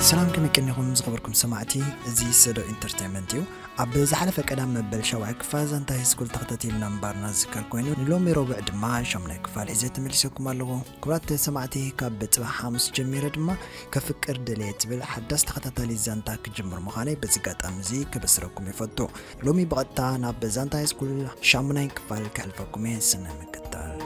ሰላም ከመይ ቀኒኹም ዝኸበርኩም ሰማዕቲ እዚ ሰዶ ኢንተርቴንመንት እዩ ኣብ ዝሓለፈ ቀዳም መበል ሻውዓይ ክፋል ዛንታ ሃይስኩል ተኸታቲልና ምንባርና ዝዝከር ኮይኑ ንሎሚ ረቡዕ ድማ ሻሙናይ ክፋል ሒዘ ተመሊሰኩም ኣለኹ ክብራት ሰማዕቲ ካብ ፅባሕ ሓሙስ ጀሚረ ድማ ከፍቅር ደልየ ትብል ሓዳስ ተኸታታሊ ዛንታ ክጅምር ምዃነይ በዚ ኣጋጣሚ እዚ ከበስረኩም ይፈቱ ሎሚ ብቐጥታ ናብ ዛንታ ሃይስኩል ሻሙናይ ክፋል ከሕልፈኩም እየ ስነ ምክታል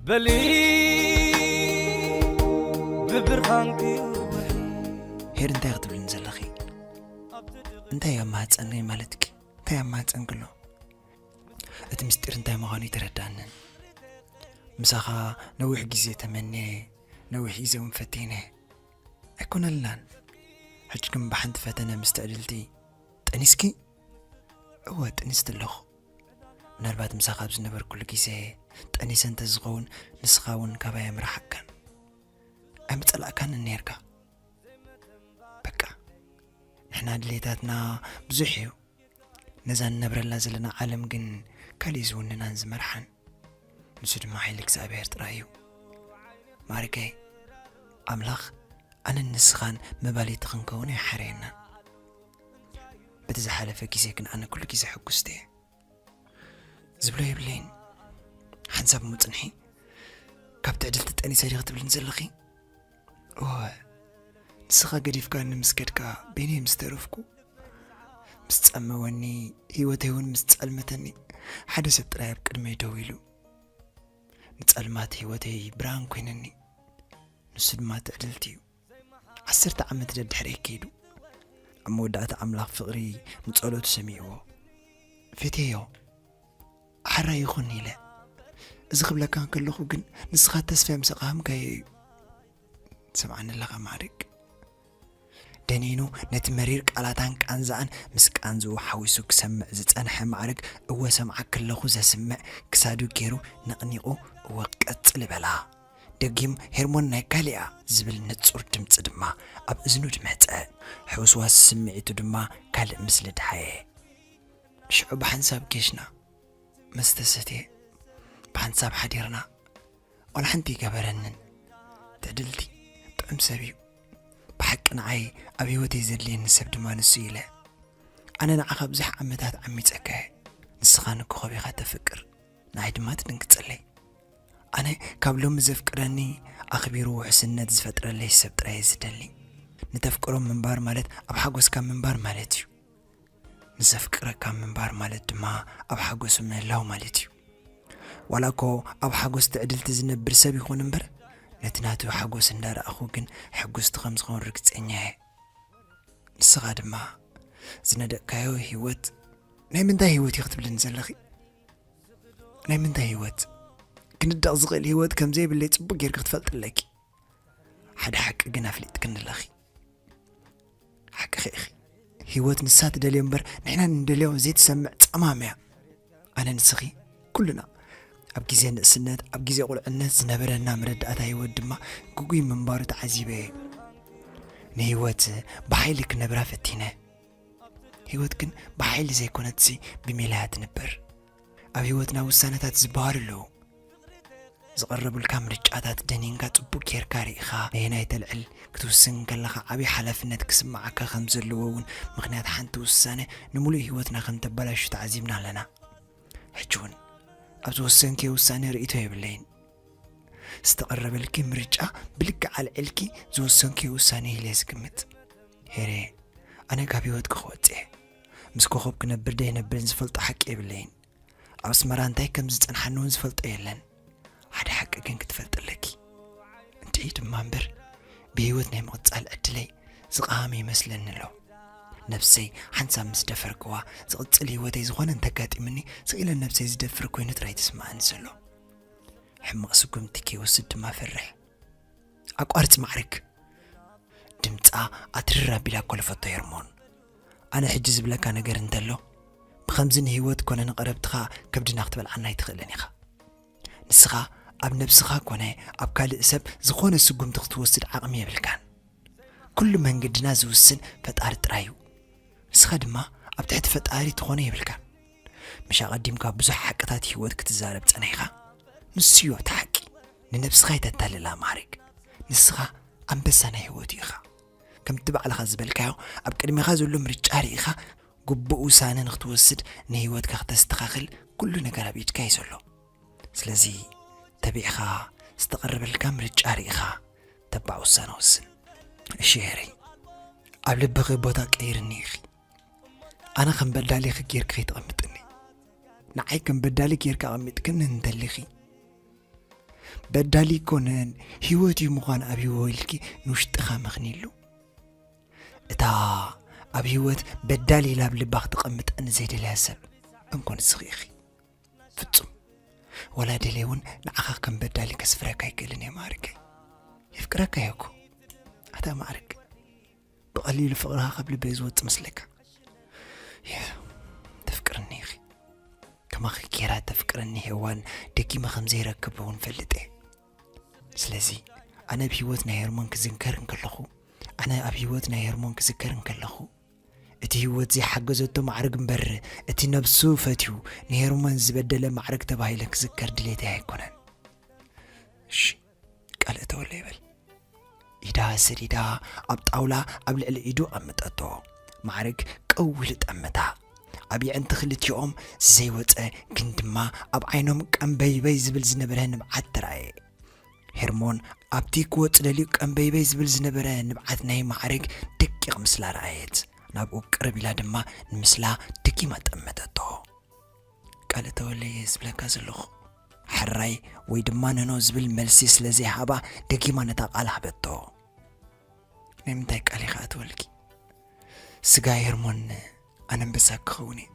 በሊ ብብርሃንኪ ውሒ ሄር እንታይ ክትብልኒ ዘለኺ እንታይ ኣብ ማህፀነይ ማለትኪ እንታይ ኣብ ማህፀንክሎ እቲ ምስጢር እንታይ ምዃኑ ይተረዳንን ምሳኻ ነዊሕ ግዜ ተመንየ ነዊሕ ግዜ እውን ፈቲነ ኣይኮነላን ሕጂ ግን ብሓንቲ ፈተነ ምስ ትዕድልቲ ጠኒስኪ እወ ጥኒስቲ ኣለኹ ምናልባት ምሳኻ ኣብ ዝነበርኩሉ ግዜ ጠኒሰ እንተዝኸውን ንስኻ እውን ካባይ ምራሓካን ኣይምፀላእካን ነርካ በቃ ንሕና ድሌታትና ብዙሕ እዩ ነዛ ንነብረላ ዘለና ዓለም ግን ካልእዩ ዝውንናን ዝመርሓን ንሱ ድማ ሓይሊ እግዚኣብሔር ጥራይ እዩ ማርገይ ኣምላኽ ኣነን ንስኻን መባልይቲ ክንከውን ኣይሓረየናን በቲ ዝሓለፈ ግዜ ግን ኣነ ኩሉ ግዜ ሕጉስቲ እየ ዝብሎ የብለይን ሓንሳብ ምፅንሒ ካብ ትዕድልቲ ጠኒሰ ዲኺ ትብልን ዘለኺ እወ ንስኻ ገዲፍካኒ ምስ ከድካ በይነይ ምስ ተረፍኩ ምስ ጸመወኒ ህይወተይ እውን ምስ ጸልመተኒ ሓደ ሰብ ጥራይ ኣብ ቅድመይ ደው ኢሉ ንጸልማት ህይወተይ ብርሃን ኮይነኒ ንሱ ድማ ትዕድልቲ እዩ ዓሰርተ ዓመት ደድሕሪ ከይዱ ኣብ መወዳእታ ኣምላኽ ፍቕሪ ንጸሎቱ ሰሚዕዎ ፌቴዮ ሓራ ይኹን ኢለ እዚ ክብለካ እንከለኹ ግን ንስኻ ተስፋ ምስ ኣቕሃምካዮ እዩ ትሰምዓኒ ኣለኻ ማዕርግ ደኒኑ ነቲ መሪር ቃላታን ቃንዛኣን ምስ ቃንዝኡ ሓዊሱ ክሰምዕ ዝጸንሐ ማዕርግ እወ ሰምዓ ክለኹ ዘስምዕ ክሳዱ ገይሩ ነቕኒቑ እወ ቀጽሊ በላ ደጊም ሄርሞን ናይ ካሊኣ ዝብል ንጹር ድምፂ ድማ ኣብ እዝኑ ድመፀ ሕውስዋስ ስምዒቱ ድማ ካልእ ምስሊ ድሓየ ሽዑ ብሓንሳብ ጌሽና ምስ ተሰትየ ብሓንሳብ ሓዲርና ዋላ ሓንቲ ኣይገበረንን ትዕድልቲ ጥዑም ሰብ እዩ ብሓቂ ንዓይ ኣብ ህይወተይ ዘድልየኒ ሰብ ድማ ንሱ ኢለ ኣነ ንዓኻ ብዙሕ ዓመታት ዓሚፀካ እየ ንስኻ ንኮኸብ ኢኻ ተፍቅር ንዓይ ድማ ትድንግፀለይ ኣነ ካብ ሎሚ ዘፍቅረኒ ኣኽቢሩ ውሕስነት ዝፈጥረለይ ሰብ ጥራይ ዝደሊ ንተፍቅሮም ምንባር ማለት ኣብ ሓጎስካ ምንባር ማለት እዩ ምስ ዘፍቅረካ ምንባር ማለት ድማ ኣብ ሓጎሱ ምህላው ማለት እዩ። ዋላ እኮ ኣብ ሓጎስ ትዕድልቲ ዝነብር ሰብ ይኹን እምበር ነቲ ናቱ ሓጎስ እንዳረኣኹ ግን ሕጉስቲ ከም ዝኸውን ርግፀኛ እየ። ንስኻ ድማ ዝነደቅካዮ ህይወት ናይ ምንታይ ህይወት እዩ ክትብልኒ ዘለኺ? ናይ ምንታይ ህይወት ክንደቕ ዝኽእል ህይወት ከም ዘይብለይ ጽቡቕ ጌርኪ ክትፈልጥለኪ ሓደ ሓቂ ግን ኣፍሊጥክኒ ኣለኺ ሓቅኺ ኢኺ ህይወት ንሳ ትደልዮ እምበር ንሕና ንደልዮ ዘይትሰምዕ ጸማም እያ ኣነ ንስኺ ኩልና ኣብ ግዜ ንእስነት ኣብ ግዜ ቁልዕነት ዝነበረና መረዳእታ ህይወት ድማ ግጉይ ምንባሩ ተዓዚበ እየ ንህይወት ብሓይሊ ክነብራ ፈቲነ ህይወት ግን ብሓይሊ ዘይኮነትሲ ብሜላያ ትንበር ኣብ ህይወትና ውሳነታት ዝበሃሉ ኣለዉ። ዝቐረቡልካ ምርጫታት ደኒንካ ጽቡቕ ጌርካ ርኢኻ ነየናይ ተልዕል ክትውስን ከለኻ ዓብዪ ሓላፍነት ክስምዓካ ከም ዘለዎ እውን ምኽንያት ሓንቲ ውሳነ ንምሉእ ህይወትና ከም ተበላሹ ተዓዚብና ኣለና። ሕጂ እውን ኣብ ዝወሰንክዮ ውሳነ ርእይቶ የብለይን። ዝተቐረበልኪ ምርጫ ብልክዕ ኣልዒልኪ ዝወሰንክዮ ውሳነ ኢለ ዝግምት ሄሬ፣ ኣነ ካብ ህይወትኪ ክወጽእ እየ። ምስ ኮኾብ ክነብር ደይነብርን ዝፈልጦ ሓቂ የብለይን። ኣብ ኣስመራ እንታይ ከም ዝጸንሓኒ እውን ዝፈልጦ የለን። ሓደ ሓቂ ግን ክትፈልጥ ኣለኪ። እንተይ ድማ እምበር ብህይወት ናይ ምቕጻል ዕድለይ ዝቓመ ይመስለኒ ኣሎ። ነብሰይ ሓንሳብ ምስ ደፈርክዋ ዝቕጽል ህይወተይ ዝኾነ እንተጋጢምኒ ስኢለ ነብሰይ ዝደፍር ኮይኑ ጥራይ ትስምዓኒ ዘሎ። ሕማቕ ስጉምቲ ከይወስድ ድማ ፈርሕ። ኣቋርጽ ማዕርግ ድምፃ ኣትርር ኣቢላ ኮለፈቶ ሄርሞን ኣነ ሕጂ ዝብለካ ነገር እንተሎ ብኸምዚ ንህይወት ኮነ ንቐረብትኻ ከብድና ክትበልዓና ኣይትኽእልን ኢኻ። ንስኻ ኣብ ነብስኻ ኮነ ኣብ ካልእ ሰብ ዝኾነ ስጉምቲ ክትወስድ ዓቕሚ የብልካን። ኩሉ መንገድና ዝውስን ፈጣሪ ጥራይ እዩ። ንስኻ ድማ ኣብ ትሕቲ ፈጣሪ ትኾኖ የብልካን። ምሽ ኣቐዲምካ ብዙሕ ሓቅታት ህይወት ክትዛረብ ጸኒሕካ ንሱዮ እቲ ሓቂ። ንነብስኻ ኣይተታልላ ማዕሪግ። ንስኻ ኣንበሳ ናይ ህይወት ኢኻ። ከምቲ ባዕልኻ ዝበልካዮ ኣብ ቅድሜኻ ዘሎ ምርጫ ርኢኻ ግቡእ ውሳነ ንኽትወስድ ንህይወትካ ክተስተኻኽል ኩሉ ነገር ኣብ ኢድካ እዩ ዘሎ ስለዚ ተቢዕኻ ዝተቐረበልካ ምርጫ ርኢኻ ተባዕ ውሳነ ወስን እሺ ሄረይ ኣብ ልብኺ ቦታ ቀይርኒ ኢኺ ኣነ ከም በዳሊኺ ጌርኪ ከይተቐምጥኒ ንዓይ ከም በዳሊ ጌርካ ኣቐሚጥክኒ እንተሊኺ በዳሊ ኮነን ህይወት እዩ ምዃን ኣብ ህይወ ኢልኪ ንውሽጥኻ መኽኒሉ እታ ኣብ ህይወት በዳሊ ኢላ ኣብ ልባ ክትቐምጥ ንዘይደለያ ሰብ እንኮን ስኺኢኺ ፍጹም ወላ ደለ እውን ንዓኻ ከም በዳሊ ከስፍረካ ኣይክእልን እየ ማዕርከይ የፍቅረካ እየኩ ኣታ ማዕርግ ብቐሊሉ ፍቕርኻ ካብ ልበይ ዝወፅ መስለካ ተፍቅርኒ ኢኺ ከማኺ ጌራ ተፍቅረኒ ሄዋን ደጊመ ከም ዘይረክብ እውን ፈልጥ እየ ስለዚ ኣነ ኣብ ህይወት ናይ ሄርሞን ክዝንከር እንከለኹ ኣነ ኣብ ህይወት ናይ ሄርሞን ክዝከር እንከለኹ እቲ ህይወት ዘይሓገዘቶ ማዕርግ እምበር እቲ ነብሱ ፈትዩ ንሄርሞን ዝበደለ ማዕርግ ተባሂለ ክዝከር ድሌተይ ኣይኮነን እሺ ቀልእ ተወለ ይበል ኢዳ ሰዲዳ ኣብ ጣውላ ኣብ ልዕሊ ኢዱ ኣምጠቶ ማዕርግ ቅው ኢሉ ጠመታ ኣብ የዕንቲ ክልቲኦም ዘይወፀ ግን ድማ ኣብ ዓይኖም ቀምበይበይ ዝብል ዝነበረ ንብዓት ተራእየ ሄርሞን ኣብቲ ክወፅ ደልዩ ቀምበይበይ ዝብል ዝነበረ ንብዓት ናይ ማዕርግ ደቂቕ ምስላ ረኣየት ናብኡ ቅርብ ኢላ ድማ ንምስላ ደጊማ ጠመተቶ ቃለ ተወልደ እየ ዝብለካ ዘለኹ። ሕራይ ወይ ድማ ነኖ ዝብል መልሲ ስለ ዘይሃባ ደጊማ ነታ ቃል ሃበቶ። ናይ ምንታይ ቃል ኢኻ እትበልኪ? ስጋ ሄርሞን ኣነንበሳ ክኸውን እየ።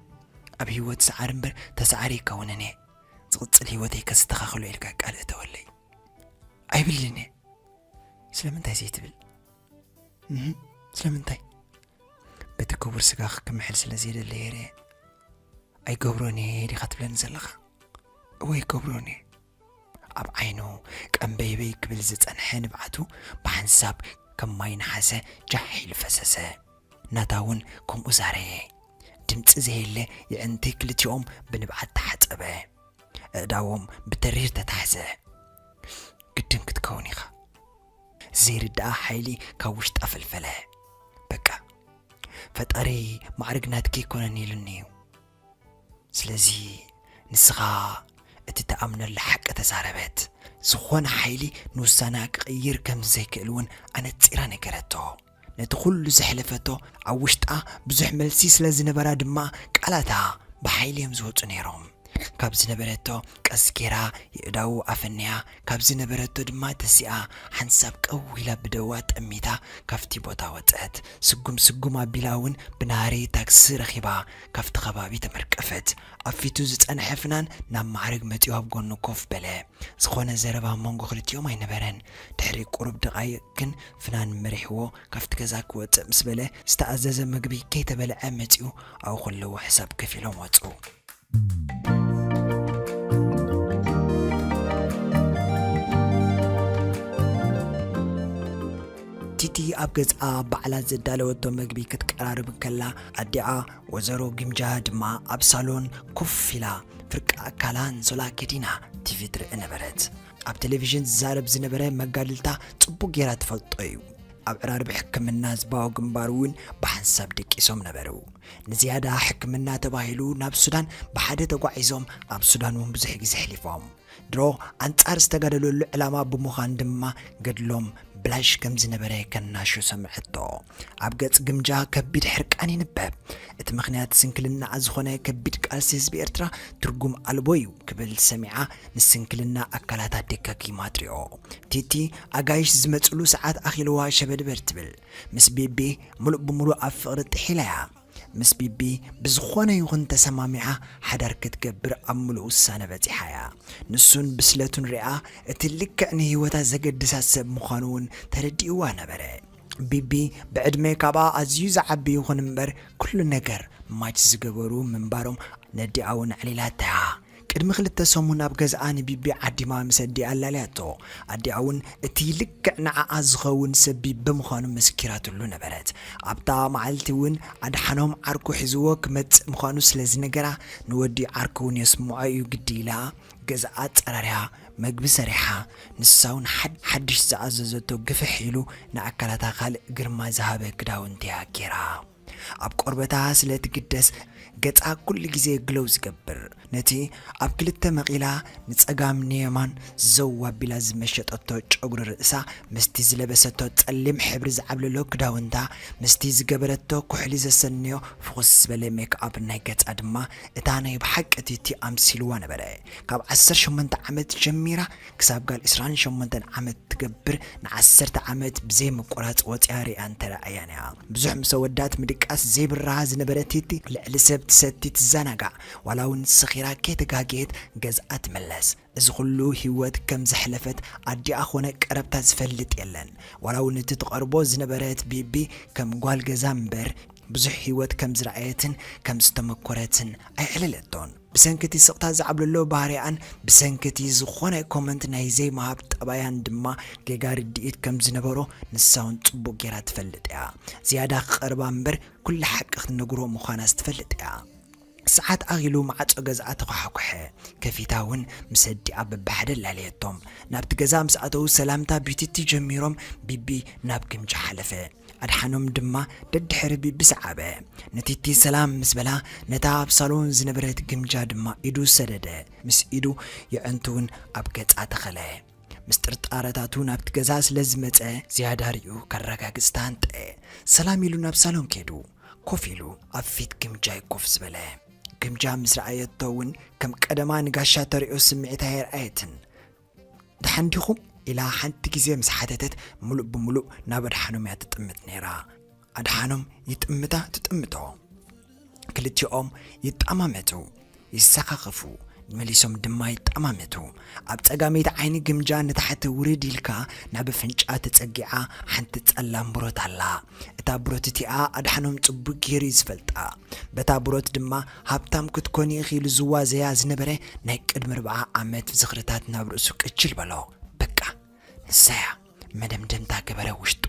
ኣብ ህይወት ሰዓሪ እምበር ተሰዓሪ ኣይከውንን እየ። ዝቕጽል ህይወተይ ከስተኻኽሎ ኢልካ ቃል እተወለይ። ኣይብልን እየ። ስለምንታይ ዘይትብል? ስለምንታይ በቲ ክቡር ስጋ ክምሕል ስለ ዘይደለ የረ ኣይገብሮን እየ ዲኻ ትብለኒ ዘለኻ እወ ይገብሮን እየ ኣብ ዓይኑ ቀምበይበይ ክብል ዝጸንሐ ንብዓቱ ብሓንሳብ ከም ማይ ነሓሰ ጃሕ ኢሉ ፈሰሰ ናታ እውን ከምኡ ዛረየ ድምፂ ዘየለ የዕንቲ ክልቲኦም ብንብዓት ተሓፀበ እእዳዎም ብተሪር ተታሕዘ ግድን ክትከውን ኢኻ ዘይርዳኣ ሓይሊ ካብ ውሽጣ ፈልፈለ በቃ ፈጣሪ ማዕርግ ናትኪ ኣይኮነን ኢሉኒ እዩ ስለዚ ንስኻ እቲ ተኣምነሉ ሓቂ ተዛረበት ዝኾነ ሓይሊ ንውሳነኣ ክቕይር ከም ዘይክእል እውን ኣነጺራ ነገረቶ ነቲ ኩሉ ዘሕለፈቶ ኣብ ውሽጣ ብዙሕ መልሲ ስለ ዝነበራ ድማ ቃላታ ብሓይሊ እዮም ዝወጹ ነይሮም። ካብ ዝነበረቶ ቀስ ገይራ የእዳዉ ኣፈንያ ካብ ዝነበረቶ ድማ ተሲኣ ሓንሳብ ቀው ኢላ ብደዋ ጠሚታ ካብቲ ቦታ ወጸት። ስጉም ስጉም ኣቢላ እውን ብናህሪ ታክሲ ረኺባ ካብቲ ከባቢ ተመርቀፈት። ኣብ ፊቱ ዝጸንሐ ፍናን ናብ ማዕርግ መጺኡ ኣብ ጎኑ ኮፍ በለ። ዝኾነ ዘረባ ኣብ መንጎ ክልቲኦም ኣይነበረን። ድሕሪ ቁሩብ ደቓይቕ ግን ፍናን መሪሕዎ ካብቲ ገዛ ክወጽእ ምስ በለ ዝተኣዘዘ መግቢ ከይተበልዐ መጺኡ ኣብኡ ከለዉ ሕሳብ ከፊሎም ወጹ። ቲቲ ኣብ ገዝኣ ባዕላ ዘዳለወቶ መግቢ ክትቀራርብ ከላ ኣዲኣ ወዘሮ ግምጃ ድማ ኣብ ሳሎን ኮፍ ኢላ ፍርቂ ኣካላ ኣንሶላ ከዲና ቲቪ ትርኢ ነበረት። ኣብ ቴሌቪዥን ዝዛረብ ዝነበረ መጋድልታ ጽቡቕ ጌራ ትፈልጦ እዩ። ኣብ ዕራርብ ሕክምና ህዝባዊ ግንባር እውን ብሓንሳብ ደቂሶም ነበሩ። ንዝያዳ ሕክምና ተባሂሉ ናብ ሱዳን ብሓደ ተጓዒዞም ኣብ ሱዳን እውን ብዙሕ ግዜ ኣሕሊፎም። ድሮ ኣንጻር ዝተጋደለሉ ዕላማ ብምዃን ድማ ገድሎም ብላሽ ከም ዝነበረ ከናሹ ሰምዐቶ። ኣብ ገጽ ግምጃ ከቢድ ሕርቃን ይንበብ። እቲ ምኽንያት ስንክልናኣ ዝኾነ ከቢድ ቃልሲ ህዝቢ ኤርትራ ትርጉም ኣልቦ እዩ ክብል ሰሚዓ ንስንክልና ኣካላታ ደጋጊማ ትሪኦ። ቲቲ ኣጋይሽ ዝመጽሉ ሰዓት ኣኺልዋ ሸበድበድ ትብል። ምስ ቢቢ ምሉእ ብምሉእ ኣብ ፍቕሪ ጥሒላ እያ። ምስ ቢቢ ብዝኾነ ይኹን ተሰማሚዓ ሓዳር ክትገብር ኣብ ምሉእ ውሳነ በጺሓ እያ። ንሱን ብስለቱን ሪኣ እቲ ልክዕ ንህይወታ ዘገድሳ ሰብ ምዃኑ እውን ተረዲእዋ ነበረ። ቢቢ ብዕድመ ካብኣ ኣዝዩ ዝዓቢ ይኹን እምበር ኩሉ ነገር ማች ዝገበሩ ምንባሮም ነዲኣ ውን ኣዕሊላታ'ያ። ቅድሚ ክልተ ሰሙን ኣብ ገዝኣ ንቢቢ ዓዲማ ምስ ኣዲኣ ኣላልያቶ። ኣዲኣ ውን እቲ ልክዕ ንዓኣ ዝኸውን ሰብ ቢቢ ምዃኑ መሲኪራትሉ ነበረት። ኣብታ መዓልቲ ውን ኣድሓኖም ዓርኩ ሒዝዎ ክመጽእ ምዃኑ ስለ ዝነገራ ንወዲ ዓርኩ ውን የስምዖ'ዩ ግዲ ኢላ ገዛ ኣጸራሪሃ፣ መግቢ ሰሪሓ፣ ንሳውን ሓድሽ ዝኣዘዘቶ ግፍሕ ኢሉ ንኣካላታ ካልእ ግርማ ዝሃበ ክዳውንቲ'ያ ጌራ። ኣብ ቆርበታ ስለ ትግደስ ገጻ ኩሉ ግዜ ግሎው ዝገብር፣ ነቲ ኣብ ክልተ መቒላ ንጸጋም ንየማን ዘው ኣቢላ ዝመሸጠቶ ጨጉሪ ርእሳ ምስቲ ዝለበሰቶ ጸሊም ሕብሪ ዝዓብለሎ ክዳውንታ ምስቲ ዝገበረቶ ኩሕሊ ዘሰንዮ ፍኹስ ዝበለ ሜክኣፕ ናይ ገጻ ድማ እታ ናይ ብሓቂ ቲቲ ኣምሲልዋ ነበረ ካብ ዓሰርተ ሸሞንተ ዓመት ጀሚራ ክሳብ ጋል ዕስራን ሸሞንተን ዓመት ትገብር ንዓሰርተ ዓመት ብዘይ ምቁራጽ ወጽያ ሪኣን ተራእያን እያ ብዙሕ ምሰ ወዳት ምድቃስ ዘይብራሃ ዝነበረ ቲቲ ልዕሊ ሰብ ትሰቲ ትዛናጋዕ ዋላ ውን ሰኺራ ከይተጋገየት ገዝኣ ትምለስ እዚ ኹሉ ሂወት ከም ዘሕለፈት ኣዲኣ ኮነ ቀረብታ ዝፈልጥ የለን ዋላ ውን እቲ ትቀርቦ ዝነበረት ቢቢ ከም ጓል ገዛ እምበር ብዙሕ ሂወት ከም ዝረኣየትን ከም ዝተመኮረትን ኣይዕለለቶን ብሰንኪ እቲ ስቅታ ዝዓብለሎ ባህሪኣን ብሰንኪ እቲ ዝኾነ ኮመንት ናይ ዘይምሃብ ጠባያን ድማ ጌጋ ርድኢት ከም ዝነበሮ ንሳ ውን ጽቡቅ ጌራ ትፈልጥ እያ ዝያዳ ክቀርባ እምበር ኩላ ሓቂ ክትነግሮ ምዃናስ ትፈልጥ እያ። ሰዓት ኣኺሉ ማዕጾ ገዝኣ ተዃሓኵሐ። ከፊታ ውን ምስ ኣዲኣ በብሓደ ኣላለየቶም። ናብቲ ገዛ ምስ ኣተዉ ሰላምታ ቢቲቲ ጀሚሮም ቢቢ ናብ ግምጃ ሓለፈ። ኣድሓኖም ድማ ደድሕሪ ቢቢ ሰዓበ። ንቲቲ ሰላም ምስ በላ ነታ ኣብ ሳሎን ዝነበረት ግምጃ ድማ ኢዱ ሰደደ። ምስ ኢዱ የዕንቱ ውን ኣብ ገጻ ተኸለ። ምስ ጥርጣረታቱ ናብቲ ገዛ ስለ ዝመጸ ዝያዳ ሪኡ ከረጋግጽ ተሃንጠ። ሰላም ኢሉ ናብ ሳሎን ከይዱ ኮፍ ኢሉ ኣብ ፊት ግምጃ'ዩ ኮፍ ዝበለ። ግምጃ ምስ ረኣየቶ እውን ከም ቀደማ ንጋሻ ተርእዮ ስምዒት ኣየርኣየትን። ደሓን ዲኹም? ኢላ ሓንቲ ግዜ ምስ ሓተተት ምሉእ ብምሉእ ናብ ኣድሓኖም'ያ ትጥምት ነይራ። ኣድሓኖም ይጥምታ ትጥምቶ ክልቲኦም ይጣማመቱ ይሰኻኽፉ መሊሶም ድማ ይጣማመቱ ኣብ ጸጋመይቲ ዓይኒ ግምጃ ንታሕቲ ውርድ ኢልካ ናብ ኣፍንጫ ተጸጊዓ ሓንቲ ጸላም ብሮት ኣላ እታ ብሮት እቲኣ ኣድሓኖም ጽቡቅ ገይሩ እዩ ዝፈልጣ በታ ብሮት ድማ ሃብታም ክትኮኒ ኢኺ ኢሉ ዝዋዘያ ዝነበረ ናይ ቅድሚ ርብዓ ዓመት ዝኽርታት ናብ ርእሱ ቅችል በሎ በቃ ንሳያ መደምደምታ ገበረ ውሽጡ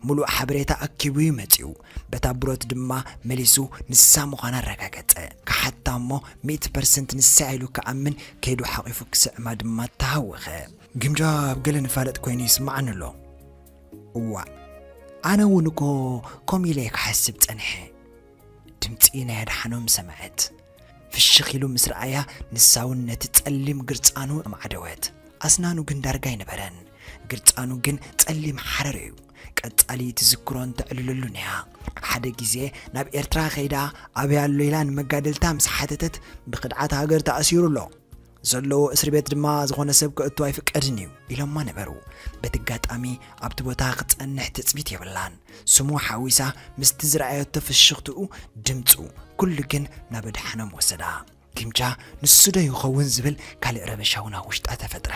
ምሉእ ሓበሬታ ኣኪቡ'ዩ መጺኡ። በታ ብሮት ድማ መሊሱ ንሳ ምዃና ኣረጋገጸ። ክሓታ'ሞ ሚእቲ ፐርሰንት ንሳ'ያ ኢሉ ክኣምን ከይዱ ሓቚፉ ክስዕማ ድማ ተሃወኸ። ግምጃ ኣብ ገለ ንፋለጥ ኮይኑ ይስምዓኒ ኣሎ። እዋእ! ኣነ'ውን እኮ ከምኡ ኢለ'የ ክሓስብ ጸኒሐ። ድምጺ ናይ ኣድሓኖም ሰምዐት። ፍሽኽ ኢሉ ምስ ረኣያ ንሳውን ነቲ ጸሊም ግርጻኑ ኣማዕደወት። ኣስናኑ ግን ዳርጋ ኣይነበረን። ግርጻኑ ግን ጸሊም ሓረር እዩ። ቀጻሊ ትዝክሮን ተዕልለሉን እያ። ሓደ ግዜ ናብ ኤርትራ ከይዳ ኣበይ ኣሎ ኢላ ንመጋድልታ ምስ ሓተተት ብክድዓት ሃገር ተኣሲሩ ኣሎ። ዘለዎ እስሪ ቤት ድማ ዝኾነ ሰብ ክእቱ ኣይፍቀድን እዩ ኢሎማ ነበሩ። በቲ ኣጋጣሚ ኣብቲ ቦታ ክጸንሕ ትጽቢት የብላን። ስሙ ሓዊሳ ምስቲ ዝረኣየቶ ፍሽኽትኡ፣ ድምጹ፣ ኩሉ ግን ናብ ኣድሓኖም ወሰዳ። ግምጃ ንሱዶ ይኸውን ዝብል ካልእ ረበሻ'ውን ኣብ ውሽጣ ተፈጥረ።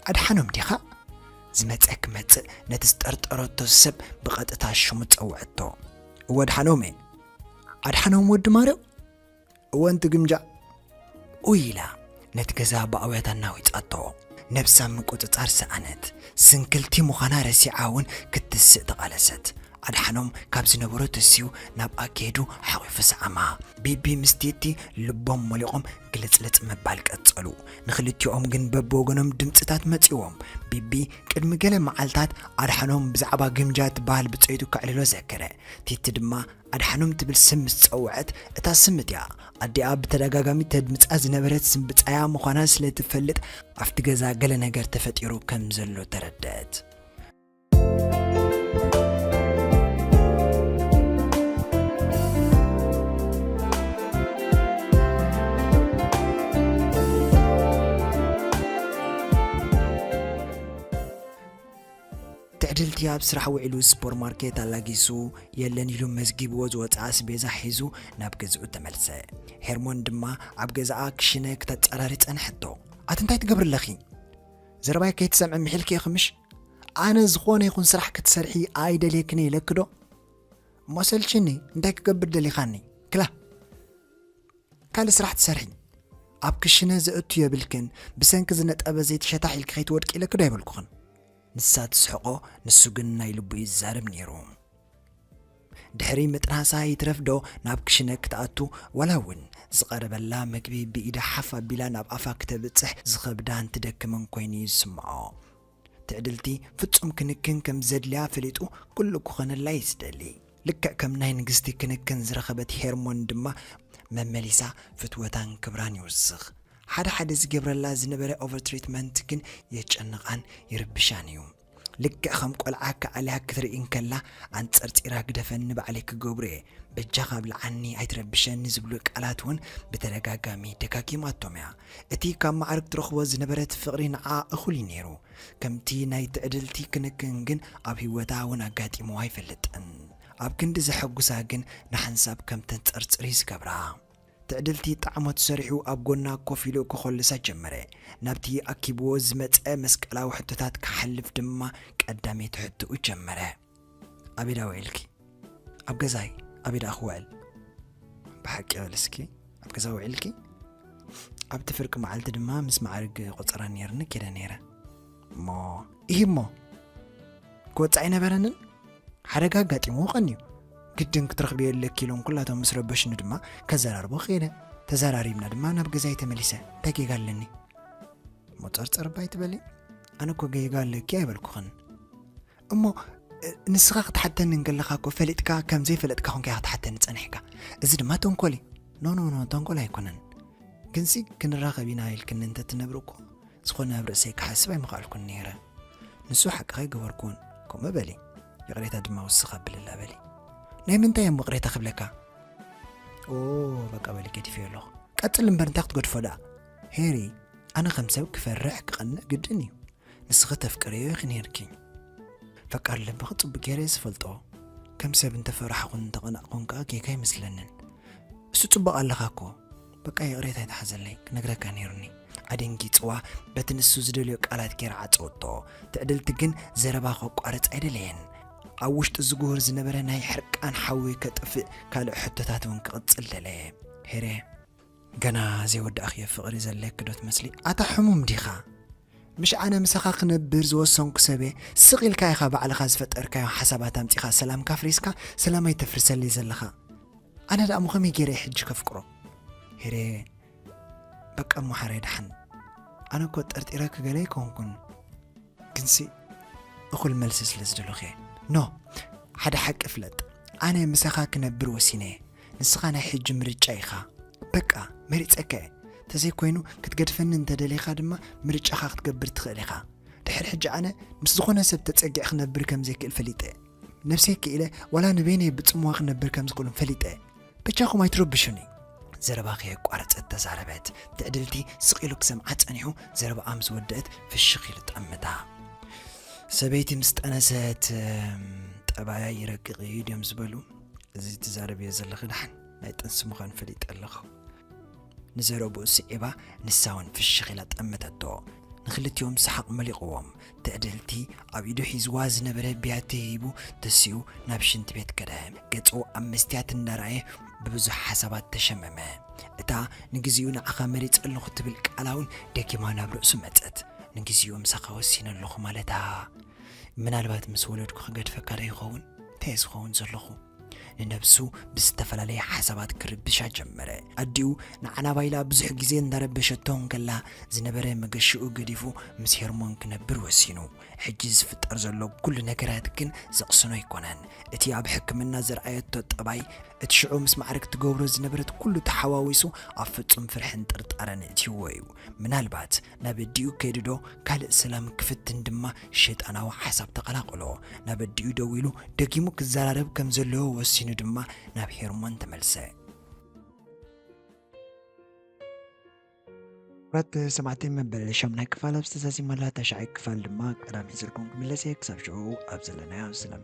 ኣድሓኖም ዲኻ? ዝመጸ ክመጽእ ነቲ ዝጠርጠረቶ ሰብ ብቐጥታ ሽሙ ጸውዐቶ። እወ ኣድሓኖም እየ። ኣድሓኖም ወዲ ማርዮ? እወ እንትግምጃዕ ኡይ ኢላ ነቲ ገዛ ብኣውያት ኣናዊጻቶ። ነብሳ ምቁጽጻር ሰኣነት። ስንክልቲ ምዃና ረሲዓ ውን ክትስእ ተቓለሰት። ኣድሓኖም ካብ ዝነበሮ ተሲኡ ናብኣ ከይዱ ሓቝፉ ሰዓማ። ቢቢ ምስ ቲቲ ልቦም ሞሊቖም ግልጽልጽ ምባል ቀጸሉ። ንኽልቲኦም ግን በብወገኖም ድምጽታት መጺኡዎም። ቢቢ ቅድሚ ገለ መዓልታት ኣድሓኖም ብዛዕባ ግምጃ ትበሃል ብጸይቱ ከዕልሎ ዘከረ። ቲቲ ድማ ኣድሓኖም ትብል ስም ምስ ጸውዐት፣ እታ ስም እቲኣ ኣዲኣ ብተደጋጋሚ ተድምጻ ዝነበረት ስም ብጻያ ምዃና ስለ እትፈልጥ፣ ኣብቲ ገዛ ገለ ነገር ተፈጢሩ ከም ዘሎ ተረድኣት። ትዕድልቲ ኣብ ስራሕ ውዒሉ ስፖር ማርኬት ኣላጊሱ የለን ኢሉ መዝጊብዎ ዝወጽኣ ኣስቤዛ ሒዙ ናብ ገዝኡ ተመልሰ። ሄርሞን ድማ ኣብ ገዛኣ ክሽነ ክተጻራሪ ጸንሐቶ። ኣቲ እንታይ ትገብሪ ኣለኺ? ዘረባይ ከይትሰምዒ ምሒልኪ ኢኺ ምሽ? ኣነ ዝኾነ ይኹን ስራሕ ክትሰርሒ ኣይደልየክን ኢለኪ ዶ? እሞ ኣሰልቺኒ እንታይ ክገብር ደሊኻኒ? ክላ ካልእ ስራሕ ትሰርሒ ኣብ ክሽነ ዘእቱ የብልክን፣ ብሰንኪ ዝነጠበ ዘይቲ ሸታሕ ኢልኪ ከይትወድቂ ኢለኪ ዶ ኣይበልኩኽን? ንሳ ትስሕቆ ንሱ ግን ናይ ልቡ እዩ ዝዛረብ ነይሩ። ድሕሪ ምጥናሳ ይትረፍ ዶ ናብ ክሽነ ክትኣቱ ዋላ እውን ዝቐረበላ መግቢ ብኢዳ ሓፍ ኣቢላ ናብ ኣፋ ክተብጽሕ ዝኸብዳን ትደክምን ኮይኑ እዩ ዝስምዖ። ትዕድልቲ ፍጹም ክንክን ከም ዘድልያ ፈሊጡ ኩሉ ክኾነላ እዩ ዝደሊ። ልክዕ ከም ናይ ንግስቲ ክንክን ዝረኸበት ሄርሞን ድማ መመሊሳ ፍትወታን ክብራን ይውስኽ። ሓደ ሓደ ዝገብረላ ዝነበረ ኦቨርትሪትመንት ግን የጨንቓን ይርብሻን እዩ። ልክዕ ከም ቆልዓ ክዓልያ ክትርኢ እንከላ ኣንጸርጺራ ግደፈኒ ባዕለይ ክገብሮ እየ፣ በጃኻ ኣብልዓኒ ኣይትረብሸኒ ዝብሉ ቃላት እውን ብተደጋጋሚ ደጋጊማቶም እያ። እቲ ካብ ማዕርግ ትረኽቦ ዝነበረት ፍቕሪ ንዓኣ እኹል እዩ ነይሩ። ከምቲ ናይ ትዕድልቲ ክንክን ግን ኣብ ህይወታ እውን ኣጋጢምዋ ኣይፈልጥን። ኣብ ክንዲ ዘሐጉሳ ግን ንሓንሳብ ከም ተንጸርጽር እዩ ዝገብራ። ትዕድልቲ ጠዓሞት ሰሪሑ ኣብ ጎና ኮፍ ኢሉ ከኾልሳ ጀመረ። ናብቲ ኣኪብዎ ዝመጸ መስቀላዊ ሕቶታት ክሓልፍ ድማ ቀዳመይቲ ሕቶኡ ጀመረ። ኣበይ ደኣ ውዒልኪ? ኣብ ገዛይ። ኣበይ ደኣ ክውዕል? ብሓቂ በልስኪ ኣብ ገዛ ውዒልኪ? ኣብቲ ፍርቂ መዓልቲ ድማ ምስ መዓርግ ቆፀራ ነይርኒ ኬደ ነይረ እሞ ይህ እሞ ክወፅዕ ኣይነበረንን ሓደጋ ኣጋጢሞ ቀን እዩ ግድን ክትረኽብዮ ኣለኪ ኢሎም ኩላቶም ምስ ረበሽኒ ድማ ከዘራርቦ ክኢለ ተዘራሪብና ድማ ናብ ገዛይ ተመሊሰ እንታይ ጌጋ ኣለኒ ሞፀርፀር ባይ ትበሊ ኣነ እኮ ጌጋ ኣለኪ ኣይበልኩኽን እሞ ንስኻ ክትሓተኒ እንከለኻ እኮ ፈሊጥካ ከም ዘይፈለጥካ ኮንካ ኢኻ ክትሓተኒ ጸኒሕካ እዚ ድማ ተንኮል እዩ ኖኖኖ ተንኮል ኣይኮነን ግንሲ ክንራኸብ ኢና ኢልክኒ እንተትነብሪ እኮ ዝኾነ ኣብ ርእሰይ ክሓስብ ኣይምኽኣልኩን ነይረ ንሱ ሓቅኻ ይገበርኩን ከምኡ በሊ ይቕሬታ ድማ ውስኽ ኣብልላ በሊ ናይ ምንታይ እዮም ይቕሬታ ክብለካ ኦ በቃ በሊ ገዲፈዮ ኣለኹ ቀጽል እምበር እንታይ ክትገድፎ ደኣ ሄሪ ኣነ ከም ሰብ ክፈርሕ ክቐንእ ግድን እዩ ንስኺ ተፍቅርዮ ኢኺ ኔርኪ። ፈቃር ልብኺ ጽቡቕ ጌረ እየ ዝፈልጦ። ከም ሰብ እንተ ፈራሕኹን እንተ ቀናእኩን ከኣ ጌጋ ኣይመስለንን። እሱ ጽቡቕ ኣለኻ እኮ በቃ ይቕሬታ ኣይትሓዘለይ ክነግረካ ኔሩኒ። ኣደንጊጽዋ በቲ ንሱ ዝደልዮ ቃላት ጌራ ዓጸወቶ። ትዕድልቲ ግን ዘረባ ከቋርጽ ኣይደለየን። ኣብ ውሽጡ ዝጉህር ዝነበረ ናይ ሕርቃን ሓዊ ከጥፍእ ካልእ ሕቶታት እውን ክቕጽል ደለየ። ሄሬ! ገና ዘይወዳእክዮ ፍቅሪ ዘለኪ ዶ ትመስሊ ኣታ ሕሙም ዲካ ምሽ ኣነ ምሳካ ክነብር ዝወሰንኩ ሰብየ ስቅ ኢልካ ኢካ ባዕልካ ዝፈጠርካዮ ሓሳባት ኣምጺካ ሰላምካ ኣፍሪስካ ሰላመይ ተፍርሰለይ ዘለካ ኣነ ደኣሞ ከመይ ገይረ ሕጂ ከፍቅሮ ሄሬ በቃ እሞ ሓረይ ደሓን ኣነ እኮ ጠርጢረኪ ገለ ኣይኮንኩን ግንሲ እኹል መልሲ ስለ ዝደለኹ እየ ኖ ሓደ ሓቂ ፍለጥ ኣነ ምሳኻ ክነብር ወሲነ እየ ንስኻ ናይ ሕጂ ምርጫ ኢኻ በቃ መሪጸካ እየ ተዘይ ኮይኑ ክትገድፈኒ እንተ ደሊኻ ድማ ምርጫኻ ክትገብር ትኽእል ኢኻ ድሕር ሕጂ ኣነ ምስ ዝኾነ ሰብ ተጸጊዕ ክነብር ከም ዘይክእል ፈሊጠ ነብሰይ ክኢለ ዋላ ንበይነይ ብጽምዋ ክነብር ከም ዝኽእሉን ፈሊጠ በጃኹም ኣይትረብሹኒ ዘረባ ከየቋረጸት ተዛረበት ትዕድልቲ ስቕ ኢሉ ክሰምዓ ጸኒሑ ዘረባኣ ምስ ወደእት ፍሽኽ ኢሉ ጠምታ ሰበይቲ ምስ ጠነሰት ጠባያ ይረቅቕ እዩ ድዮም ዝበሉ እዚ ትዛረብዮ ዘለኺ ደሓን ናይ ጥንሲ ምዃን ፈሊጠ ኣለኹ ንዘረብኡ ስዒባ ንሳ እውን ፍሽኽ ኢላ ጠመተቶ ንክልቲኦም ሰሓቕ መሊቕዎም ትዕድልቲ ኣብ ኢዱ ሒዝዋ ዝነበረ ብያቲ ሂቡ ተሲኡ ናብ ሽንቲ ቤት ከደ ገጹ ኣብ መስትያት እንዳረኣየ ብብዙሕ ሓሳባት ተሸመመ እታ ንግዜኡ ንዓኻ መሪጸ ኣለኹ ትብል ቃላ እውን ደጊማ ናብ ርእሱ መጸት ንግዜኡ ምሳኻ ወሲነ ኣለኹ ማለታ ምናልባት ምስ ወለድኩ ክገድፈካ ዶ ይኸውን? እንታይ'የ ዝኸውን ዘለኹ? ንነብሱ ብዝተፈላለየ ሓሳባት ክርብሻ ጀመረ። ኣዲኡ ንዓላባ ኢላ ብዙሕ ግዜ እንዳረበሸቶ እንከላ ዝነበረ መገሽኡ ገዲፉ ምስ ሄርሞን ክነብር ወሲኑ። ሕጂ ዝፍጠር ዘሎ ኩሉ ነገራት ግን ዘቕስኖ ኣይኮነን። እቲ ኣብ ሕክምና ዘርኣየቶ ጠባይ፣ እቲ ሽዑ ምስ ማዕርግ ትገብሮ ዝነበረት ኩሉ ተሓዋዊሱ ኣብ ፍጹም ፍርሕን ጥርጣረን እእትይዎ'ዩ። ምናልባት ናብ ኣዲኡ ከይዱዶ ካልእ ሰላም ክፍትን ድማ ሸይጣናዊ ሓሳብ ተቐላቐሎ። ናብ ኣዲኡ ደዊሉ ደጊሙ ክዘራረብ ከም ዘለዎ ወሲኑ ድማ ናብ ሄርሞን ተመልሰ። ክብራት ሰማዕቲ መበል ሻምናይ ክፋል ኣብ ዝተዛዚመላ ታሽዓይ ክፋል ድማ ቀዳመ ይዘልኩም ክምለስ እየ ክሳብ ሽዑ ኣብ ዘለናዮ ሰላም